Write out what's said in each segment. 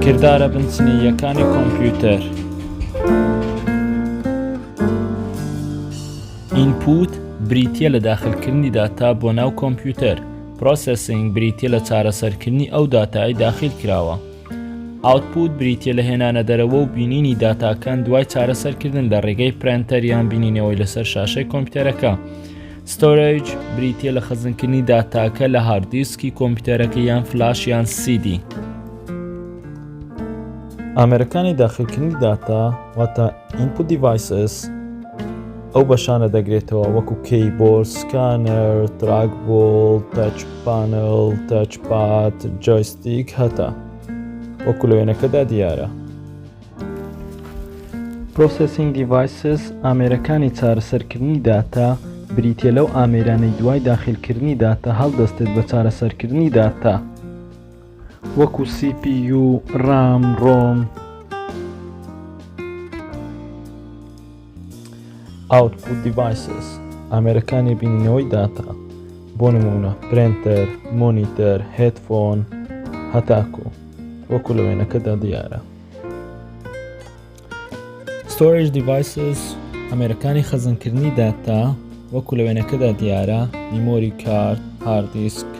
کردارە بنچنییەکانی کۆمپیوتەر ئینپوت بریتە لە داخلکردنی داتا بۆ ناو کۆمپیوتەر پرۆسسینگ بریتە لە چارەسەرکردنی ئەو داتای داخل کراوە ئاوتپوت بریتیە لە هێنانە دەرەوە و بینینی داتاکان دوای چارەسەرکردن لە ڕێگەی پرەنتەر یان بینینەوەی لەسەر شاشەی کۆمپیوتەرەکە ستۆرج بریتە لە خەزنکردنی داتاکە لە هاردیسکی کۆمپیوتەرەکە یان فلاش یان سیدی ئامرەکانی داخلکردنی داتا واتە ئینپو دیڤایسس ئەو بەشانە دەگرێتەوە وەکو کەی بۆ سکانەر تراک بۆڵ تاچ پانل تاچ پات جۆیست دیک هەتا وەکو لە وێنەکەدا دیارە. Processing Devices ئامێرەکانی چارەسەرکردنی داتا بریتیە لەو ئامێرانەی دوای داخلکردنی داتا هەڵدەستێت بە چارەسەرکردنی داتا وەکو CPU، ڕام، ڕۆم، Output Devices ئامێرەکانی بینینەوەی داتا بۆ نمونە پرێنتەر، مۆنیتەر، هێتفۆن هەتاکۆ وەکو لە وێنەکەدا دیارە. Storage Devices ئامێرەکانی خەزنکردنی داتا وەکو لە وێنەکەدا دیارە میمۆری کارت، هاردیسک،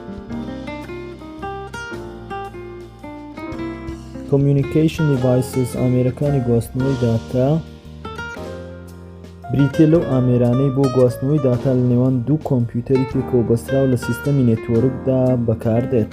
Communication Devices ئامێرەکانی گواستنەوەی داتا بریتیە لەو ئامێرانەی بۆ گواستنەوەی داتا لە نێوان دوو کۆمپیوتەری پێکەوە بەستراو لە سیستەمی نێتۆرکدا بەکاردێت.